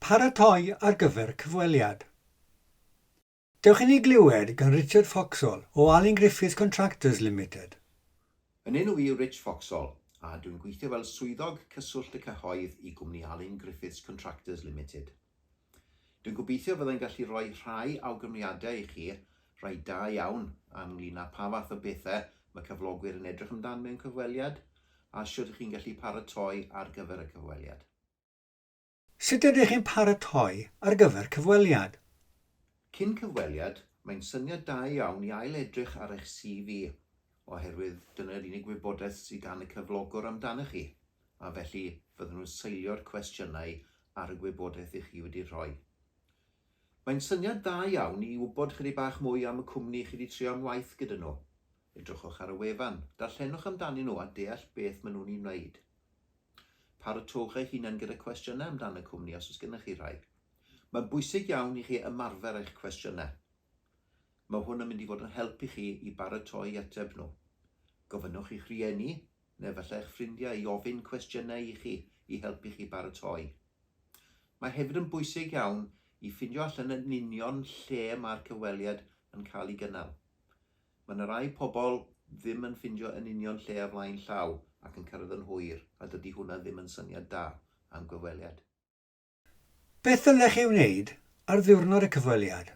Paratoi ar gyfer cyfweliad. Dewch i ni glywed gan Richard Foxhall o Alun Griffith Contractors Limited. Yn enw i yw Rich Foxhall, a dwi'n gweithio fel Swyddog Cyswllt y Cyhoedd i gwmni Alun Griffiths Contractors Limited. Dwi'n gobeithio fyddai'n gallu rhoi rhai awgrymiadau i chi, rhai da iawn, ynglŷn â pha fath o bethau mae cyflogwyr yn edrych amdan mewn cyfweliad, a shwt y'ch chi'n gallu paratoi ar gyfer y cyfweliad. Sut ydych chi'n paratoi ar gyfer cyfweliad? Cyn cyfweliad, mae'n syniad da iawn i ail-edrych ar eich CV, oherwydd dyna'r unig wybodaeth sydd gan y cyflogwr amdanoch chi, a felly fyddan nhw'n seilio'r cwestiynau ar y gwybodaeth i chi wedi rhoi. Mae'n syniad dda iawn i wybod chydig bach mwy am y cwmni chi wedi trio am waith gyda nhw, Edrychwch ar y wefan, darllenwch amdanyn nhw a deall beth maen nhw'n ei wneud. Parotowch eich hunain gyda cwestiynau amdan y cwmni os oes gennych chi rhai. Mae'n bwysig iawn i chi ymarfer eich cwestiynau. Mae hwn yn mynd i fod yn help i chi i baratoi i ateb nhw. Gofynnwch i'ch rhieni, neu efallai eich ffrindiau, i ofyn cwestiynau i chi i helpu chi baratoi. Mae hefyd yn bwysig iawn i ffindio allan yn union lle mae'r cyfweliad yn cael ei gynnal. Mae 'na rai pobl ddim yn ffindio yn union lle a flaen llaw ac yn cyrraedd yn hwyr a dydy hwnna ddim yn syniad da am gyfweliad. Beth ddylech ei wneud ar ddiwrnod y cyfweliad?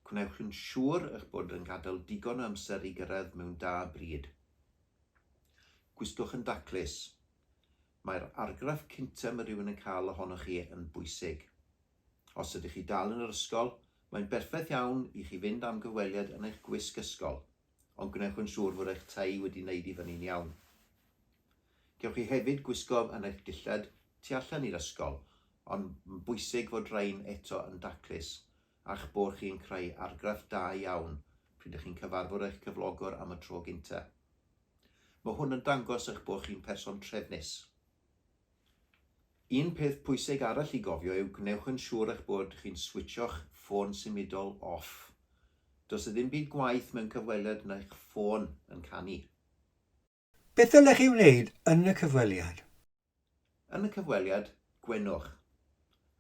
Gwnewch yn siŵr eich bod yn gadael digon o amser i gyrraedd mewn da bryd. Gwystwch yn daclus. Mae'r argraff cyntaf mae rhywun yn cael ohonoch chi yn bwysig. Os ydych chi dal yn yr ysgol, mae'n berffaith iawn i chi fynd am gyfweliad yn eich gwisg ysgol, ond gwnewch yn siŵr fod eich tei wedi wneud i fyny'n iawn. Cewch chi hefyd gwisgo yn eich dillad tu allan i'r ysgol, ond mae'n bwysig fod rhain eto yn daclus, a'ch bod chi'n creu argraff da iawn pryd ydych chi'n cyfarfod eich cyflogwr am y tro gyntaf. Mae hwn yn dangos eich bod chi'n person trefnus. Un peth pwysig arall i gofio yw gwnewch yn siŵr eich bod chi'n switsio'ch ffôn symudol off. Does 'na ddim byd gwaeth mewn cyfweliad na'ch ffôn yn canu. Beth ddylech chi wneud yn y cyfweliad? Yn y cyfweliad, gwenwch,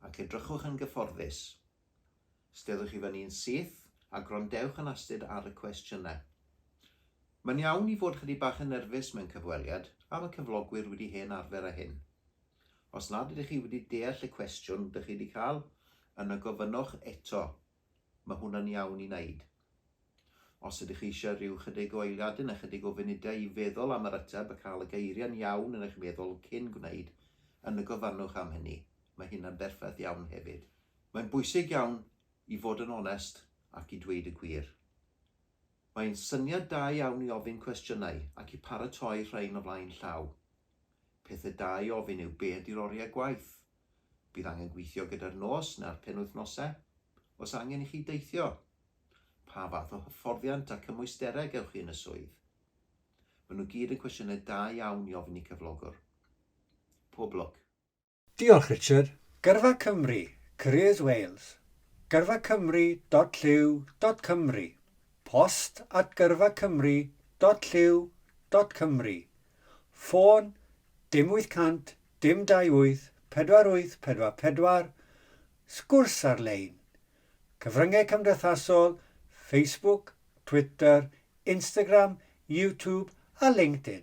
ac edrychwch yn gyfforddus. Steddwch i fyny'n syth a gwrandewch yn astud ar y cwestiynau. Mae'n iawn i fod chydig bach yn nerfus mewn cyfweliad a mae cyflogwyr wedi hen arfer â hyn. Os nad ydych chi wedi deall y cwestiwn dych chi wedi cael, yna gofynnwch eto. Mae hwnna'n iawn i wneud. Os ydych eisiau rhyw chydig o eiliadau neu chydig o funudau i feddwl am yr ateb a cael y geiriau'n iawn yn eich meddwl cyn gwneud, yna gofynnwch am hynny. Mae hynna'n berffaith iawn hefyd. Mae'n bwysig iawn i fod yn onest ac i dweud y gwir. Mae'n syniad da iawn i ofyn cwestiynau ac i paratoi rhain o flaen llaw. Pethau da i ofyn yw be ydy'r oriau gwaith? Bydd angen gweithio gyda'r nos neu'r penwythnosau? Oes angen i chi deithio? Pa fath o hyfforddiant a cymwysterau gewch chi yn y swydd? Maen nhw gyd yn cwestiynau da iawn i ofyn i cyflogwr. Pob lwc! Diolch Richard. Gyrfa Cymru, Careers Wales, gyrfacymru.llyw.cymru, post at gyrfacymru.llyw.cymru, ffôn, dim 800 dim 28 4844, sgwrs ar-lein, cyfryngau cymdeithasol, Facebook, Twitter, Instagram, YouTube a LinkedIn.